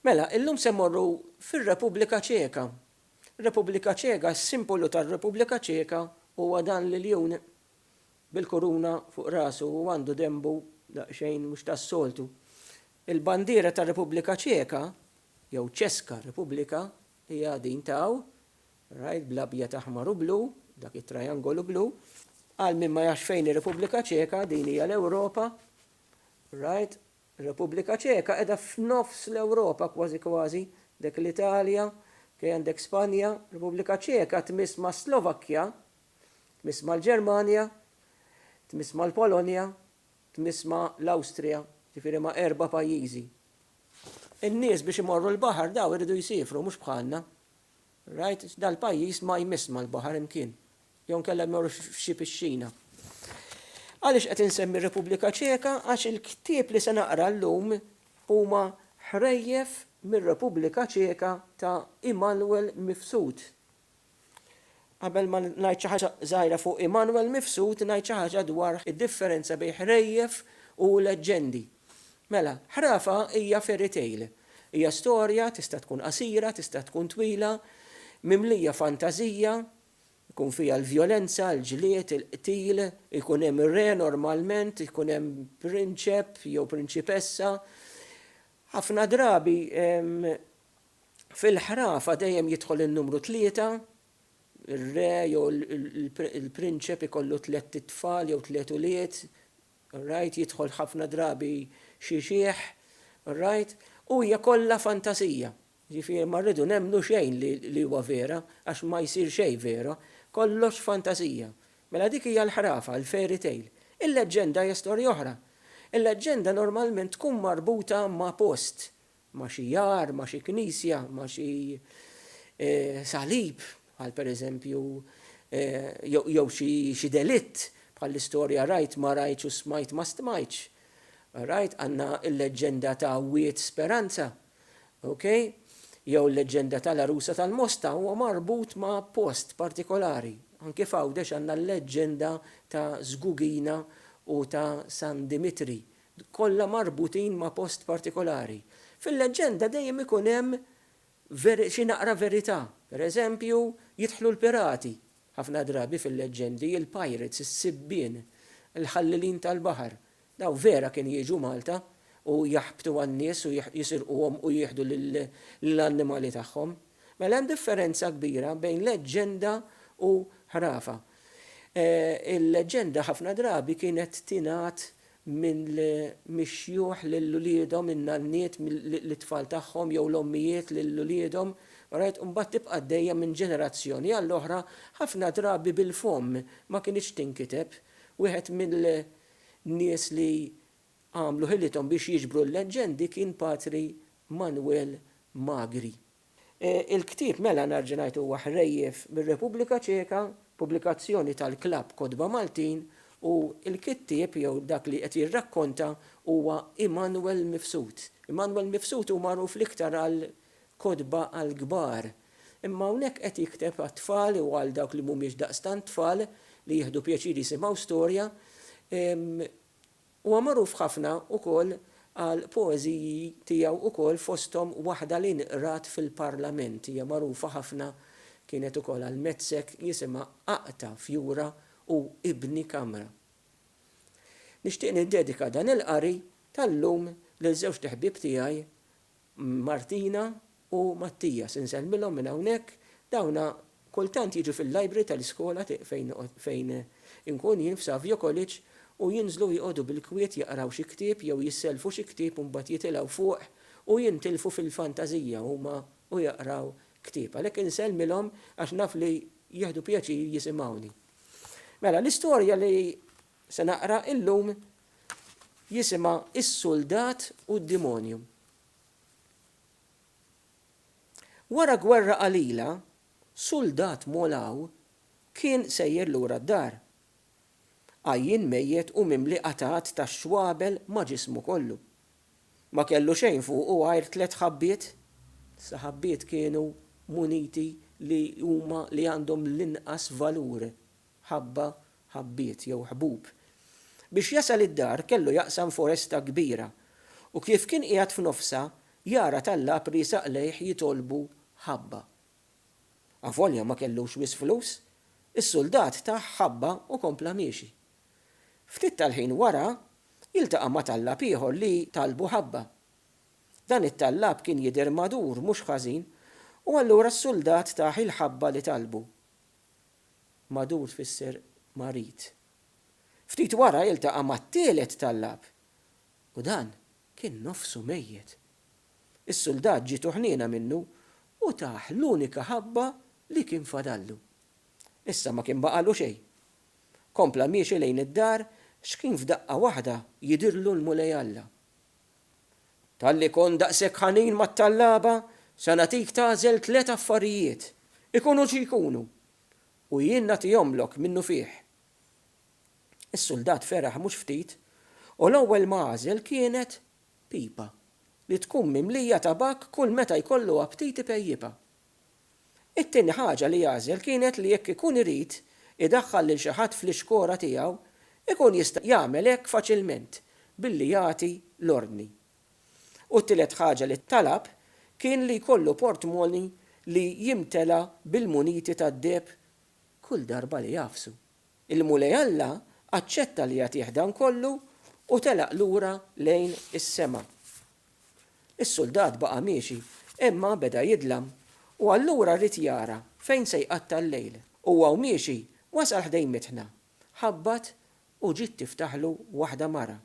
Mela, illum se mmorru fir-Repubblika Ċeka. Repubblika Ċeka, s-simbolu tar-Repubblika Ċeka huwa dan l-iljun bil-kuruna fuq rasu u għandu denbu daqsxejn mhux tas-soltu. Il-bandiera tar-Repubblika Ċeka, jew Ċeska Repubblika, hija din ta' hawn, rajt bl-abjad aħmar u blu, dak it-trajangolu blu. Għal min ma jafx fejn hi Repubblika Ċeka, din hija l-Ewropa. Right, Repubblika Ċeka qiegħda f'nofs l-Ewropa kważi kważi, dek l-Italja, kej għandek Spanja, Repubblika Ċeka tmiss mas-Slovakkja, tmiss mal-Ġermanja, tmiss mal-Polonja, tmiss ma' l-Awstrija, ġifieri ma' erba' pajjiżi. In-nies biex imorru l-baħar daw iridu jsiefru mhux bħalna. Rajt dal-pajjiż ma jmiss mal-baħar imkien, jew inkella jmorrux f'xi pixxina. Għaliex qed insemmi r-Repubblika Ċeka? Għax il-ktieb li se naqra llum huma ħrejjef mir-Repubblika Ċeka ta' Immanuel Mifsud. Qabel ma ngħid xi ħaġa żgħira fuq Immanuel Mifsud, ngħid xi ħaġa dwar id-differenza bejn ħrejjef u leġġendi. Mela, ħrafa hija fairy tale. Hija storja, tista' tkun qasira, tista' tkun twila, mimlija fantażija, ikun fiha l-vjolenza, l-ġlied, il-qtil, ikun hemm re normalment, ikun hemm prinċep jew prinċipessa. Ħafna drabi fil-ħrafa dejjem jidħol in-numru tlieta, ir-re jew il-prinċep ikollu tliet itfal jew tliet ulied, Rajt jidħol ħafna drabi xi xiħ, rajt, u hija kollha fantasija. Jiġifieri ma rridu nemmnu xejn li huwa vera, għax ma jsir xejn vera, kollox fantasija. Mela dik hija l-ħrafa, il-fairy tale. Il-leġġenda hija storja oħra. Il-leġġenda normalment tkun marbuta ma' post, ma' xi jar, ma' xi knisja, ma' xi salib, bħal pereżempju jew xi delitt, bħall-istorja rajt ma rajtx u smajt ma stmajtx. Rajt, għandna l-leġġenda ta' Wied Speranza, okay? Jew l-leġġenda tal-Għarusa tal-Mosta huwa marbut ma' post partikolari. Anki f'Għawdex għandna l-leġġenda ta' Żgugina u ta' San Dimitri, kollha marbutin ma' post partikolari. Fil-leġġenda dejjem ikun hemm xi naqra verità. Per eżempju, jidħlu l-pirati, ħafna drabi fil-leġġendi, il-pirates, is-sibbien, il-ħallilin tal-baħar. Dawn vera kienu jiġu Malta u jaħbtu għan-nies u jisirquhom u jieħdu l-annimali tagħhom. Mela hemm differenza kbira bejn leġġenda u ħrafa. Il-leġġenda ħafna drabi kienet tingħad minn mix-xjuħ lil uliedhom, in-nanniet lit-tfal tagħhom jew l-ommijiet lil uliedhom, rajt, u mbagħad tibqa' għaddejja minn ġenerazzjoni għall-oħra, ħafna drabi bil-fomm, ma kinitx tinkiteb. Wieħed mill-nies li għamlu ħilithom biex jiġbru l-leġġendi kien Patri Manwel Magri. Il-ktieb Mela nhar ġenajt huwa ħrejjef mir-Repubblika Ċeka, pubblikazzjoni tal-Klabb Kotba Maltin u l-kittieb jew dak li qed jirrakkonta huwa Immanuel Mifsud. Immanuel Mifsud hu magħruf l-iktar għal kotba għall-kbar, imma hawnhekk qed jikteb għat-tfal u għal dawk li mhumiex daqstant tfal li jieħdu pjaċir jisimgħu storja. Huwa magħruf ħafna wkoll għal poeżiji tiegħu wkoll fosthom waħda li nqrat fil-Parlament hija magħrufa ħafna kienet ukoll għal Metzek jisimha Aqta' fjura u Ibni kamra. Nixtieq niddedika dan il-qari tal-lum lil żewġt iħbieb tiegħi Martina u Mattias, insellmilhom minn hawnhekk, dawna kultant jiġu fil-library tal-iskola fejn inkun jien f'Savio College u jinżlu joqogħdu bil-kwiet jaqraw xi ktieb jew jissellfu xi ktieb u mbagħad jitilgħu fuq u jintilfu fil-fantażija huma u jaqraw ktieb. Għalhekk insellmilhom għax naf li jieħdu pjaċir jisimgħuni. Mela, l-istorja li Se naqra llum jisimha Is-Suldat u d-Dimonju. Wara gwerra qalila, suldat Molaw kien sejjer lura d-dar. Għajjien mejjet u mimli qatgħat ta' xwabel ma' ġismu kollu. Ma kellu xejn fuqu għajr tliet ħabbiet. Sa ħabbiet kienu muniti li huma li għandhom l-inqas valur ħabba, ħabbiet jew ħbub. Biex jasal id-dar kellu jaqsam foresta kbira u kif kien qiegħed f'nofsha jara tallapri saqlejh jitolbu ħabba. Avolja ma kellux wisq flus, is-suldat tah ħabba u kompla miexi. Ftit tal-ħin wara jiltaqa' ma' tallab ieħor li talbu ħabba. Dan it-tallab kien jidher madur mhux ħażin u allura s-suldat tah il-ħabba li talbu. Madur tfisser marid. Ftit wara iltaqa' mat-tielet tallab u dan kien nofsu mejjet. Is-suldat ġietu ħniena minnu u tah l-unika ħabba li kien fadallu. Issa ma kien baqagħlu xejn. Kompla miexi lejn id-dar x'kien f'daqqa waħda jidhirlu l-Mulej Alla. Talli kont daqshekk ħanin mat-tallaba, se nagħtik tagħżel tliet affarijiet, ikunu xi jkunu, u jien nagħtihomlok minnufih. Is-suldat feraħ mhux ftit, u l-ewwel ma għażel kienet pipa li tkun mimlija tabakk kull meta jkollu aptit ipejjipha. It-tieni ħaġa li għażel kienet li jekk ikun irid idaħħal lil xi ħadd fl-ixkora tiegħu, ikun jista' jagħmel hekk faċilment billi jagħti l-ordni. U t-tielet ħaġa li talab kien li jkollu portmonni li jimtela bil-muniti tad-deheb kull darba li jagħfsu. Il-Mulej Alla aċċetta li jagħtih dan kollu u telaq lura lejn is-sema. Is-suldat baqa' miexi, imma beda jidlam, u allura ried jara fejn se jqatta' l-lejl. Huwa u miexi, wasal ħdejn mitħna. Ħabbat u ġiet tiftaħlu waħda mara.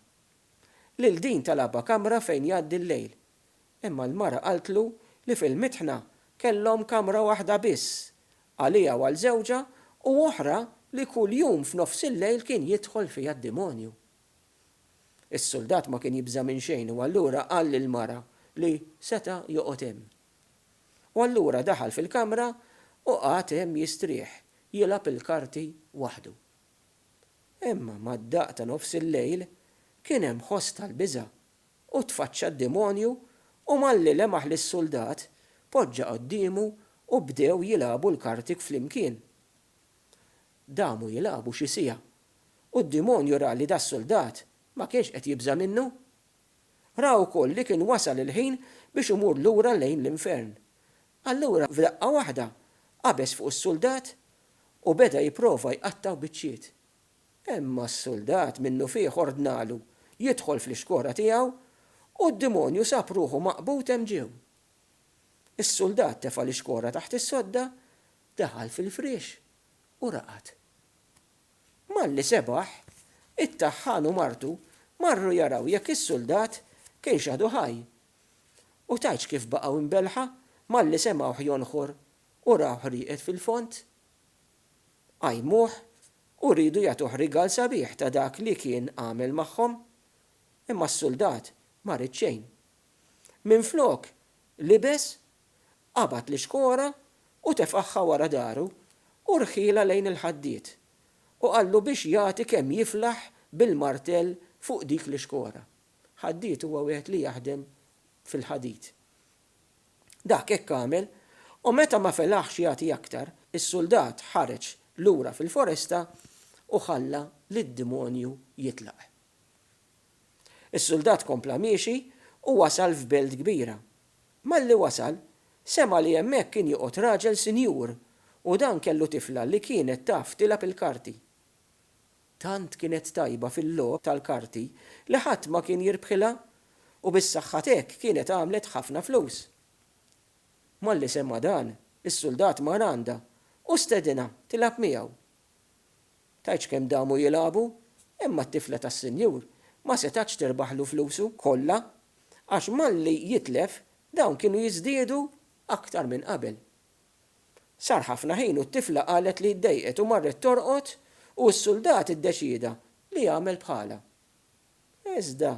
Lil din talabha kamra fejn jgħaddi l-lejl. Imma l-mara qaltlu li fil-mitħna kellhom kamra waħda biss, għaliha u għal żewġha, u oħra li kuljum f'nofsillejl kien jidħol fiha d-demonju. Is-suldat ma kien jibża' minn xejn u allura qal lill-mara li seta' joqgħod hemm. U allura daħal fil-kamra u qagħad hemm jistrieħ, jilgħab il-karti waħdu. Imma mad-daqq ta' nofs il-lejl kien hemm ħoss tal-biża' u tfaċċa d-demonju u malli lemaħ lis-suldat, poġġa qoddiemu u bdew jilgħabu l-karti flimkien. Damu jilagħbu xi siegħa, u d-dimonju ra li das-suldat ma kienx qed jibża' minnu. Ra wkoll li kien wasal il-ħin biex imur lura lejn l-infern. Allura f'daqqa waħda qabeż fuq is-suldat u beda jipprova jqattgħu biċċiet. Imma s-suldat minnufih ordnalu jidħol fl-ixkora tiegħu u d-dimonju sab ruħu maqbud hemm ġew. Is-suldat tefa' l-ixkora taħt is-sodda Daħal fil-friex u raqad. Malli sebaħ, it-taħħan u martu marru jaraw jekk is-suldat kienx għadu ħaj. U tgħidx kif baqgħu imbelħa malli semgħuh jonħor u rawh rieqed fil-fond. Qajmuh u riedu jagħtuh rigal sabiħ ta' dak li kien għamel magħhom. Imma s-suldat ma ried xejn. Minflok, libes qabad l-ixkora u tefagħha wara daru u rħielha lejn il-ħaddied, u qallu biex jagħti kemm jiflaħ bil-martell fuq dik l-ixkora. Ħaddied huwa wieħed li jaħdem fil-ħadid. Dak hekk għamel, u meta ma felaħx jagħti aktar, is-suldat ħareġ lura fil-foresta u ħalla lid-demonju jitlaq. Is-suldat kompla miexi u wasal f'belt kbira, Malli wasal, sema' li hemmhekk kien joqgħod raġel sinjur u dan kellu tifla li kienet taf tilgħab il-karti. Tant kienet tajba fil-logħob tal-karti li ħadd ma kien jirbħilha u bis-saħħa t'hekk kienet għamlet ħafna flus. Malli sema' dan, is-suldat mar għandha u stedinha tilgħab miegħu. Tgħidx kemm damu jilagħbu, imma t-tifla tas-sinjur ma setgħatx tirbaħlu flusu kollha għax malli jitlef dawn kienu jiżdiedu aktar minn qabel. Sar ħafna ħin u t-tifla qalet li ddejqet u marret torqod u s-suldat iddeċieda li jagħmel bħalha. Iżda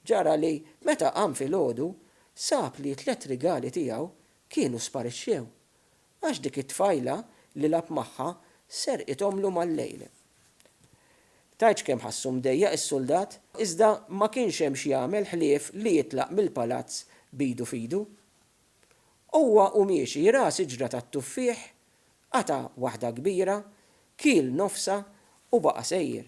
ġara li meta qam filgħodu sab li t-tliet rigali tiegħu kienu sparixxew Għax dik it-tfajla li lagħab magħha serqithomlu mal-lejl. Tgħidx kemm ħassu mdejjaq is-suldat, iżda ma kienx hemm x'jagħmel ħlief li jitlaq mill-palazz b'idu f'idu. Huwa u miexi ra siġra tat-tuffieħ, qata' waħda kbira, kiel nofsha u baqa' sejjer.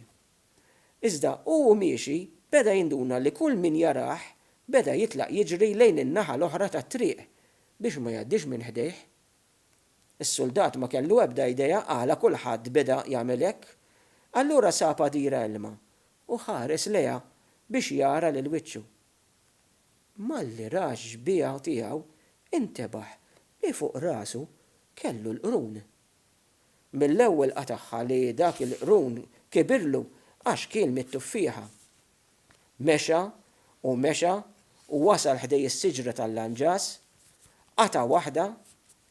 Iżda hu u miexi beda jinduna li kull min jarah beda jitlaq jiġri lejn in-naħa l-oħra tat-triq Biex ma jgħaddix minn ħdejh. Is-suldat ma kellu ebda idea għala kulħadd beda jagħmel hekk. Allura sab għadira ilma u ħares lejha biex jara lil wiċċu. Malli ra x-xbieha tiegħu, intebaħ li fuq rasu kellu l-qrun. Mill-ewwel qatagħha li dak il-qrun kibirlu għax kien mit-tuffieħa. Mexa u mexa u wasal ħdej is-siġra tal-lanġas, qata' waħda,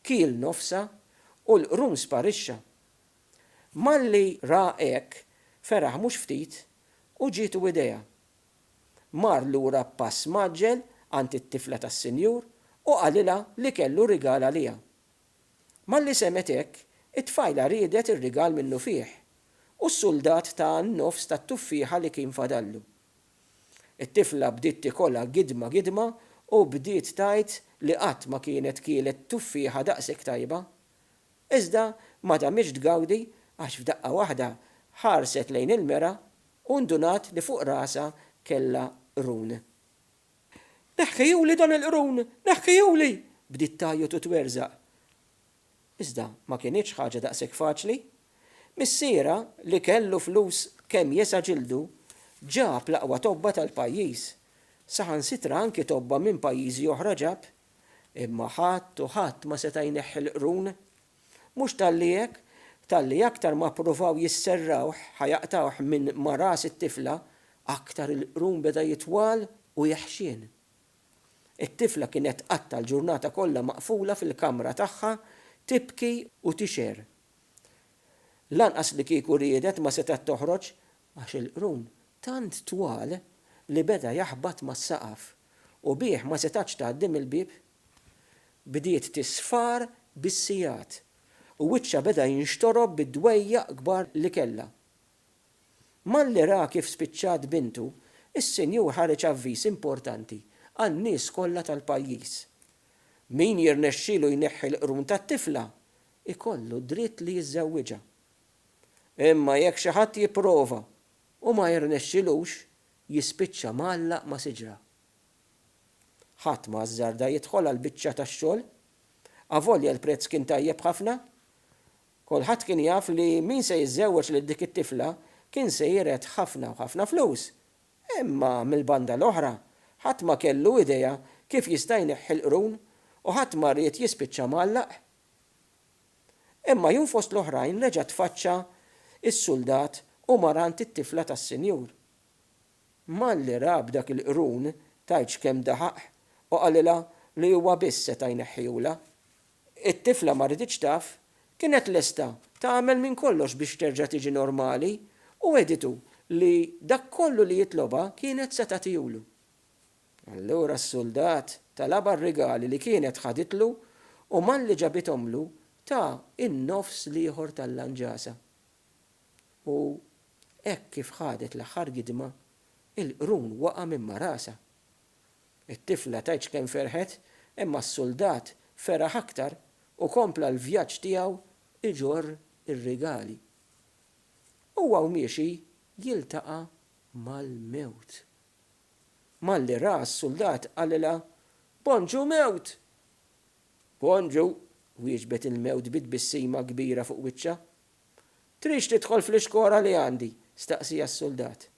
kiel nofsha u l-qrun sparixxa. Malli ra hekk feraħ mhux ftit u ġietu idea. Mar lura b'pass mgħaġġel għand it-tifla tas-sinjur u qalilha li kellu rigal għaliha. Malli semgħet hekk, it-tfajla riedet ir-rigal minnufih, u s-suldat taha n-nofs tat-tuffieħa li kien fadallu. It-tifla bdiet tikolha gidma gidma u bdiet tgħid li qatt ma kienet kielet tuffieħa daqshekk tajba. Iżda ma damitx tgawdi għax f'daqqa waħda ħarset lejn il-mera u ndunat li fuq rasha kellha qrun. Neħħiehuli dan il-qrun! Neħħiehuli! bdiet tgħajjot u twerżaq. Iżda ma kinitx ħaġa daqshekk faċli. Missierha, li kellu flus kemm jesa' ġildu, ġab l-aqwa tobba tal-pajjiż. Saħansitra anki tobba minn pajjiżi oħra ġab. Imma ħadd u ħadd ma seta' jneħħi l-qrun. Mhux talli hekk, talli aktar ma ppruvaw jisserrawh ħa jaqtgħuh minn ma' ras it-tifla, aktar il-qrun beda jitwal u jeħxien. It-tifla kienet tqatta' l-ġurnata kollha maqfula fil-kamra tagħha tibki u tixgħer. Lanqas li kieku riedet ma setgħet toħroġ għax il-qrun tant twal li beda jaħbat mas-saqaf u bih ma setgħatx tgħaddi mill-bieb. bdiet tisfar bis-sigħat u wiċċha beda jinxtorob bid-dwejjaq kbar li kellha. Malli ra kif spiċċat bintu, is-Sinjur ħareġ avviż importanti għan-nies kollha tal-pajjiż. Min jirnexxilu jneħħi l-qrun tat-tifla, ikollu d-dritt li jiżżewwiġha. Imma jekk xi ħadd jipprova u ma jirnexxilux, jispiċċa mgħallaq ma' siġra. Ħadd ma ażżarda jidħol għall-biċċa tax-xogħol, avolja l-prezz kien tajjeb ħafna. Kulħadd kien jaf li min se jiżżewweġ lil dik it-tifla kien se jiret ħafna u ħafna flus. Imma mill-banda l-oħra, ħadd ma kellu idea kif jista' jneħħi l-qrun u ħadd ma ried jispiċċa mgħallaq. Imma jum fost l-oħrajn reġa' tfaċċa s-suldat u mar għand it-tifla tas-sinjur. Malli ra b'dak il-qrun, tgħidx kemm daħaq u qalilha li huwa biss seta' jneħħihulha. It-tifla ma riditx taf, kienet lesta tagħmel minn kollox biex terġa' tiġi normali u wegħditu li dak kollu li jitlobha kienet se tagħtihulu. Allura s-suldat talabha r-rigali li kienet ħaditlu u malli ġabithomlu ta in-nofs l-ieħor tal-lanġasa. U hekk kif ħadet l-aħħar gidma, il-qrun waqa' minn ma' rasha. It-tifla tgħidx kemm ferħet, imma s-suldat feraħ aktar u kompla l-vjaġġ tiegħu iġorr ir-rigali. Huwa u miexi jiltaqa' mal-mewt. Malli raha s-suldat qalilha, Bonġu mewt! Bonġu! wieġbet il-mewt bi tbissima kbira fuq wiċċha. Tridx tidħol fl-ixkora li għandi? staqsieha s-suldat.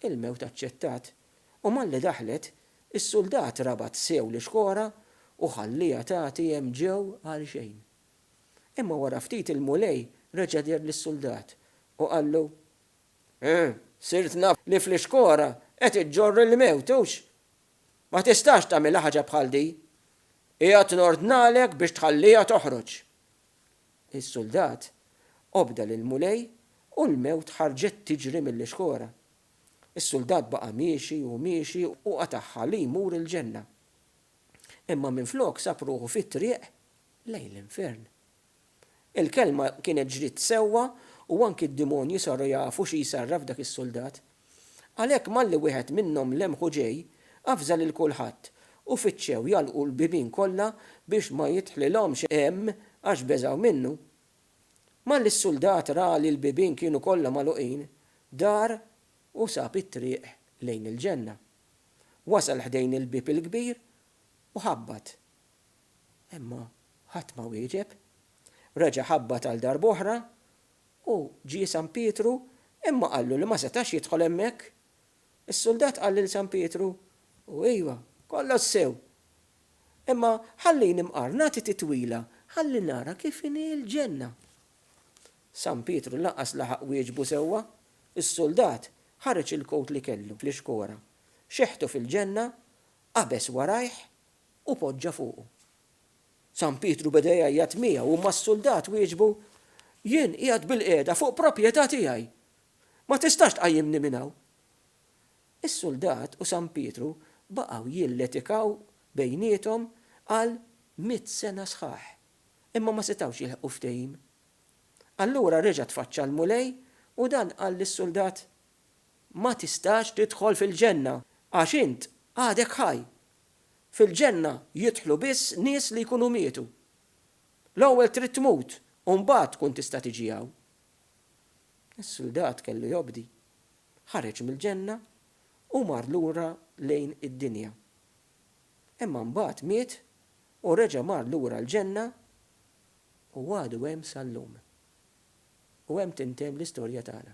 Il-mewt aċċettat, u malli daħlet, is-suldat rabat sew l-ixkora u ħallieha tagħti hemm ġew għalxejn. Imma wara ftit il-Mulej reġa' deher lis-suldat u qallu, Ħuh, sirt naf li fl-ixkora qed iġġorr il-mewt, hux? Ma tistax tagħmilha ħaġa bħal din. Qiegħed nordnalek biex tħallieha toħroġ. Is-suldat obda lill-Mulej u l-mewt ħarġet tiġri mill-ixkora. Is-suldat baqa' miexi u miexi u qatagħha li jmur il-ġenna. Imma minflok sab ruħu fit-triq lejn l-infern. Il-kelma kienet ġriet sewwa u anki d-dimonji saru jafu xi jsarraf dak is-suldat. Għalhekk malli wieħed minnhom lemħu ġej, avża lil kulħadd, u fittxew jagħlqu l-bibien kollha biex ma jidħlilhomx hemm għax beżgħu minnu. Malli s-suldat ra li l-bibien kienu kollha magħluqin, dar u sab it-triq lejn il-ġenna. Wasal ħdejn il-bieb il-kbir u ħabbat. Imma ħadd ma wieġeb. Reġa' ħabbat għal darb'oħra U ġie San Pietru, imma qallu li ma setax jidħol hemmhekk. Is-suldat qal lil San Pietru, U iva, kollox sew. Imma ħallini mqar nagħti titwila ħalli nara kif inhi l-ġenna. San Pietru lanqas laħaq wieġbu sewwa. Is-suldat ħareġ il-kowt li kellu fl-ixkora, xeħtu fil-ġenna, qabeż warajh u poġġa fuqu. San Pietru beda jgħajjat miegħu imma s-suldat wieġbu, Jien qiegħed bilqiegħda fuq proprjetà tiegħi. Ma tistax tqajjimni minn hawn. Is-suldat u San Pietru baqgħu jilletikaw bejniethom għal mitt sena sħaħ, imma ma setgħux jilħqu ftehim. Allura reġa' tfaċċa l-Mulej u dan qal lis-suldat, Ma tistax tidħol fil-ġenna, għax int għadek ħaj, Fil-Ġenna jidħlu biss nies li jkunu mietu. L-ewwel trid tmut u mbagħad tkun tista' tiġi hawn. Is-suldat kellu jobdi. Ħareġ mill-Ġenna u mar lura lejn id-dinja. Imma mbagħad miet u reġa' mar lura l-Ġenna u għadu hemm sal-lum. U hemm tintemm l-istorja tagħna.